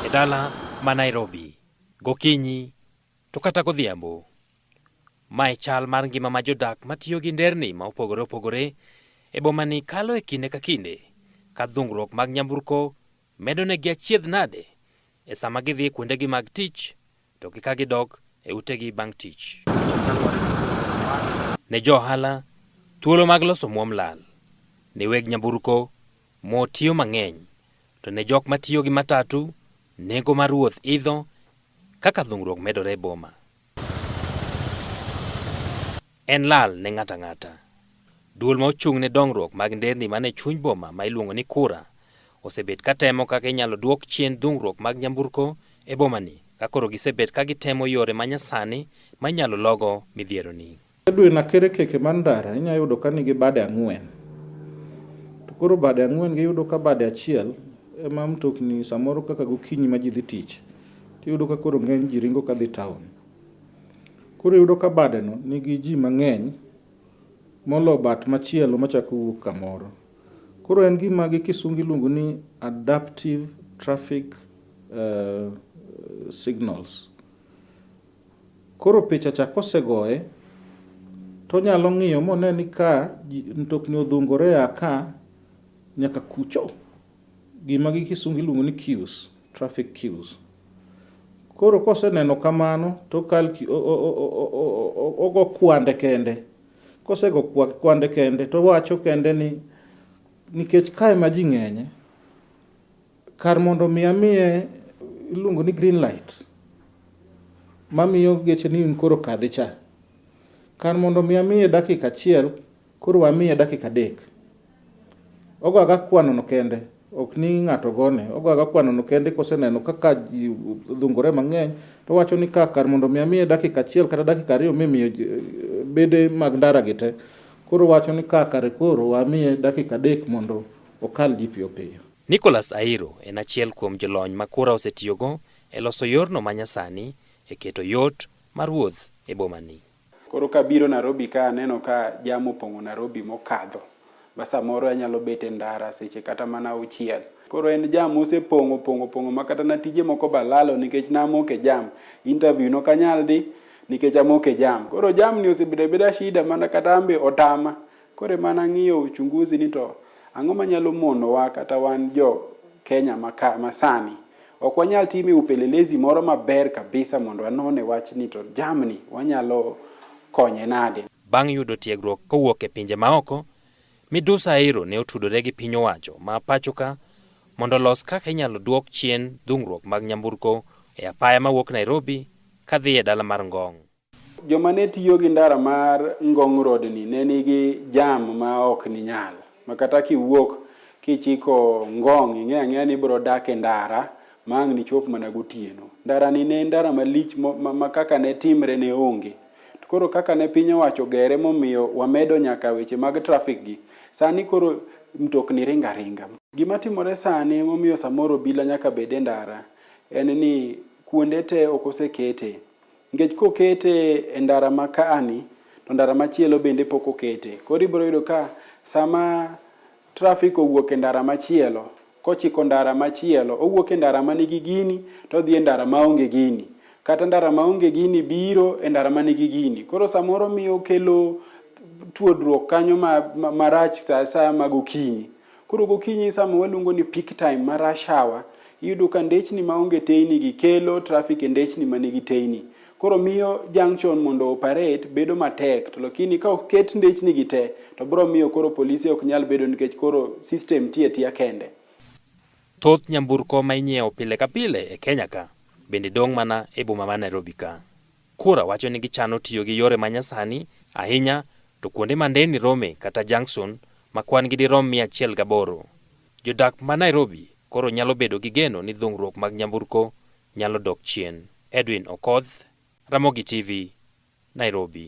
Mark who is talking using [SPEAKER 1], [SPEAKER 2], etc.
[SPEAKER 1] E dala ma Nairobi, gokinyi to kata godhiambo. Ma e chal mar ngima ma jodak matiyo gi nderni ma opogore opogore e bomani kalo e kinde ka kinde ka dhungruok mag nyamburko Medonegi achiedh nade e sama gidhi kuondegi mag tich to gi ka gidok e utegi bang' tich. Ne jo ohala, thuolo mag loso muom lal. Ne weg nyamburko, mo tiyo mang'eny. To ne jok matiyo gi matatu, nengo mar wuoth idho kaka dhung'ruok medore e boma. En lal ne ng'ato ang'ata. Duol ma ochung' ne dongruok mag nderni man e chuny boma ma iluongo ni KURA osebet ka temo kaka inyalo duok chien dhungruok mag nyamburko e bomani ka koro gisebet ka gitemo yore ma nyasani ma inyalo logo midhieroni. Edwin Akerekeke
[SPEAKER 2] mar Ndara inya yudo ka nigi bade ang'wen. To koro bade ang'wen gi iyudo ka bade achiel ema mtokni samoro kaka gokinyi ma ji dhi tich tiyudo ka koro ng'eny ji ringo ka dhi taon. Koro iyudo ka badeno nigi ji mang'eny molo bat machielo machako wuok kamoro. Koro en gima gi kisungu iluongo ni adaptive traffic signals. Koro picha cha kosegoye to onyalo ng'iyo mone ni ka mtokni odhungore a ka nyaka kucho. Gima gi kisungu iluongo ni queues, traffic queues. Koro koseneno kamano to ogo kwande kende. Kosego kwande kende towacho kende ni nikech ka ema ji ng'enye. Kar mondo omi amiye iluongo ni green light mamiyo geche ni koro kadhi cha. Kar mondo omi amiye dakika achiel, koro amiye dakika adek. Ogo aga kwano no kende, ok ni ng'ato gone. Ogo aga kwano no kende koseneno kaka ji dhungore mang'eny, to wacho ni ka kar mondo omi amiye dakika achiel kata dakika ariyo mimiyo eh, bede mag ndara gi te, koro wacho ni ka kare koro wamiye dakika adek mondo okal ji piyo piyo. Nicholas Airo
[SPEAKER 1] en achiel kuom jolony ma kura osetiyogo e loso yorno ma nyasani e keto yot mar wuoth e boma ni. Koro kabiro
[SPEAKER 3] Narobi ka aneno ka jam opong'o Narobi mokadho ma samoro anyalo bet e ndara seche kata mana auchiel. Koro en jam mosepong'o opong'o opong'o ma kata na tije moko be alalo nikech ne amoko e jam. Interview nok anyal dhi nikech amoko e jam. Koro jam ni osebedo abeda shida ma kata an be otama Koro emana ng'iyo uchunguzi ni to ang'o manyalo monowa kata wan jo Kenya maka, masani, ok wanyal time upelelezi moro maber kabisa mondo anone wach ni to jamni wanyalo konye nade. Bang' yudo tiegruok
[SPEAKER 1] kowuok e pinje maoko, Midusa Airo ne otudore gi piny owacho ma pachoka mondo olos kaka inyalo duok chien dhungruok mag nyamburko e apaya mawuok Nairobi kadhi e dala mar Ngong. Joma ne
[SPEAKER 3] tiyo gi ndara mar Ngong Road ni ne nigi jam ma ok ninyal, ma kata kiwuok kichiko Ngong ing'eyo ang'eya ni ibiro dak e ndara ma ang' nichop mana gotieno. Ndara ni ne en ndara malich ma kaka ne timre ne onge. To koro kaka ne piny owacho ogere momiyo wamedo nyaka weche mag traffic gi, sani koro mtokni ringo aringa. Gima timore sani momiyo samoro obila nyaka bed e ndara en ni kuonde te ok osekete Nikech kokete e ndara ma kaani to ndara machielo bende pok okete. Koro ibiro yudo ka sama trafik owuok e ndara machielo kochiko ndara machielo, owuok e ndara ma nigi gini to odhi e ndara ma onge gini. Kata ndara ma onge gini biro e ndara ma nigi gini. Koro samoro miyo kelo tuodruok kanyo marach sa asaya mag okinyi. Koro gokinyi sama waluongo ni peak time ma rush hour, iyudo ka ndechni maonge teyni gi kelo traffic e ndechni ma nigi teyni. Koro miyo junction mondo operate bedo matek to lakini ka oket ndechni gi te to biro miyo koro polise ok nyal bedo nikech koro system tiyo atiya kende. Thoth
[SPEAKER 1] nyamburko ma inyiewo pile ka pile e Kenya ka bende dong' mana e boma ma Nairobi ka. Kura wacho ni gichano tiyo gi yore ma nyasani ahinya to kuonde ma nderni rome kata junction ma kwan gi dirom mia achiel gaboro. Jodak ma Nairobi koro nyalo bedo gi geno ni dhung'ruok mag nyamburko nyalo dok chien. Edwin Okoth, Ramogi TV, Nairobi.